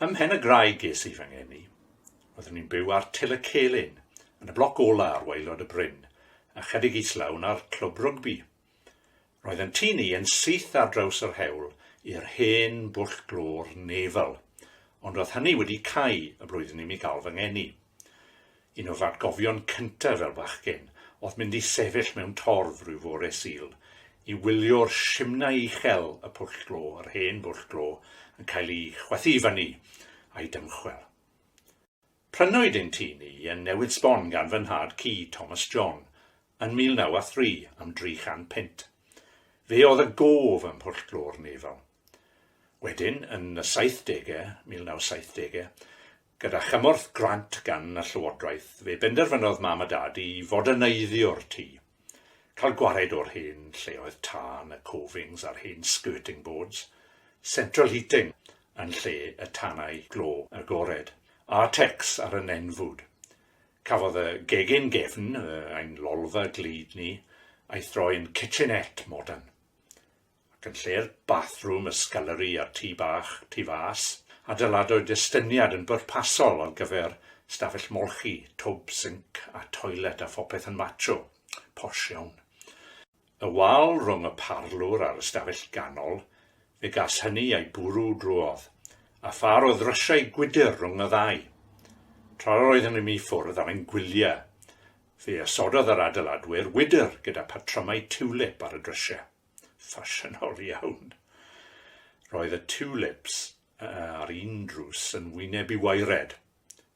Ym Mhen y Graig ges i fy ngeni. Roeddwn i'n byw ar Til y Celyn, yn y bloc ola ar waelod y bryn, ychydig islaw na'r clwb rygbi. Roedd yn tŷ ni yn syth ar draws yr hewl i'r hen bwll glor Nevel, ond roedd hynny wedi cau y blwyddyn i mi gael fy ngeni. Un o fy atgofion cyntaf fel bachgen oedd mynd i sefyll mewn torf rhyw fore Sul i wylio'r simnai uchel y pwll glo, yr hen bwll glo, yn cael ei chwythu i fyny a'i dymchwel. Prynwyd ein tŷ ni yn Newydd Sbon gan fy nhad cu, Thomas John, yn 1903 am dri chan punt. Fe oedd y gof ym Mhwllglôr Nefel. Wedyn, yn y saithdegau, 1970, gyda chymorth grant gan y Llywodraeth, fe benderfynodd Mam a Dad i foderneiddiwr tŷ. Cael gwared o'r hen lleoedd tân, y covings a'r hen skirting boards, central heating yn lle y tanau glo agored, a'r tecs ar y nenfwd. Cafodd y gegin gefn, ein lolfa glyd ni, a'i throi'n kitchenette modern. ac yn lle'r bathroom, y scullery a'r tŷ bach, tu fas, adeiladwyd estyniad yn bwrpasol ar gyfer stafell molchi, twb, sinc a toilet a phopeth yn macho. Posh iawn. Y wal rhwng y parlwr a'r ystafell ganol, fe gas hynny ei bwrw drwodd, a phâr o ddrysiau gwydr rhwng y ddau. Tra yr oeddwn i mi ffwrdd ar ein gwyliau, fe osododd yr adeiladwyr wydr gyda patrymau tiwlip ar y drysiau. ffasiynol iawn. Roedd y tulips ar un drws yn wynebu waered,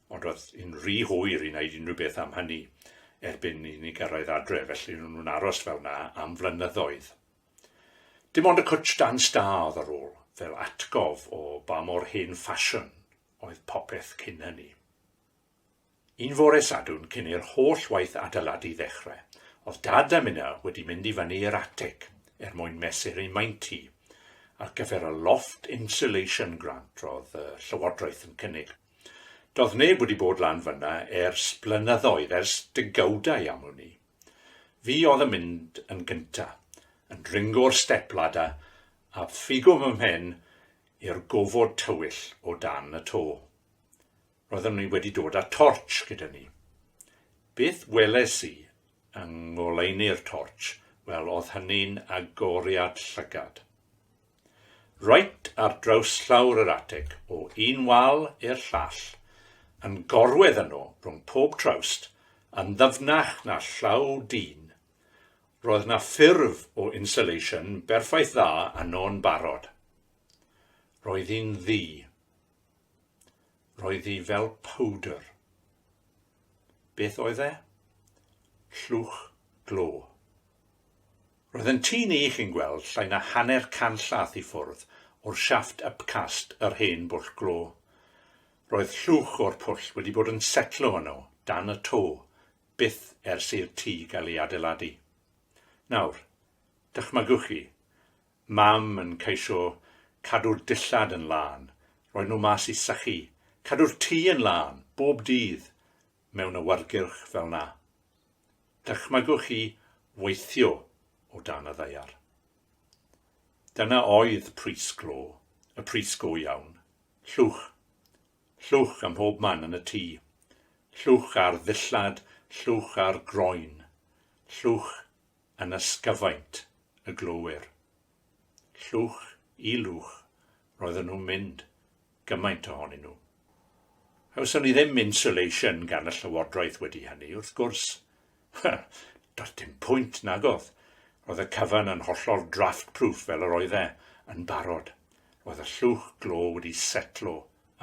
ond roedd yn rhy hwyr i wneud unrhyw beth am hynny erbyn i ni gyrraedd adre, felly ro'n nhw'n aros fel na am flynyddoedd. Dim ond y cwtsh dan stâdd ar ôl, fel atgof o ba mor hen ffasiwn oedd popeth cyn hynny. Un fore Sadwrn cyn i'r holl waith adeiladu ddechrau, oedd Dad a Minna wedi mynd i fyny i'r atig er mwyn mesur eu maint hi, ar gyfer y Loft Insulation Grant roedd y Llywodraeth yn cynnig. Doedd neb wedi bod lan fyna ers blynyddoedd, ers degawdau am wn i. Fi oedd yn mynd yn gynta, yn dringo'r step ladder a phigo fy mhen i'r gofod tywyll o dan y to. Roeddwn ni wedi dod â tortsh gyda ni. Beth weles i yng ngoleuni'r tortsh, wel oedd hynny'n agoriad llygad. Reit ar draws llawr yr ateg, o un wal i'r llall, yn gorwedd yno rhwng pob trawst, yn ddyfnach na llaw dyn, roedd na ffurf o insulation berffaith dda yno'n barod. Roedd hi'n ddu. Roedd hi fel powdr. Beth oedd e? Llwch glo. Roedd yn tŷ ni, chi'n gweld, llai na hanner canllath i ffwrdd o'r siafft upcast yr hen bwll glo. Roedd llwch o'r pwll wedi bod yn setlo yno, dan y to, byth ers i'r tŷ gael ei adeiladu. Nawr, dychmygwch chi, Mam yn ceisio cadw'r dillad yn lân, rhoi nhw mas i sychu, cadw'r tŷ yn lân, bob dydd, mewn awyrgyrch fel 'na. Dychmygwch chi weithio o dan y ddaear. Dyna oedd pris glo, y pris go iawn. Llwch. Llwch ym mhob man yn y tŷ. Llwch ar ddillad, llwch ar groen. Llwch yn ysgyfaint y glowyr. Llwch i lwch roedden nhw'n mynd, gymaint ohonyn nhw. Cawson ni ddim insulation gan y Llywodraeth wedi hynny, wrth gwrs. Doedd dim pwynt, nag oedd? Roedd y cyfan yn hollol draft-proof fel yr oedd e yn barod. Roedd y llwch glo wedi setlo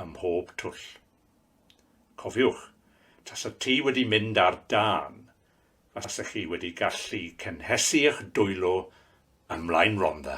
ym mhob twll. Cofiwch, tasa ti wedi mynd ar dân, Os ych chi wedi gallu cynhesu eich dwylo ym Mlaen Rhondda.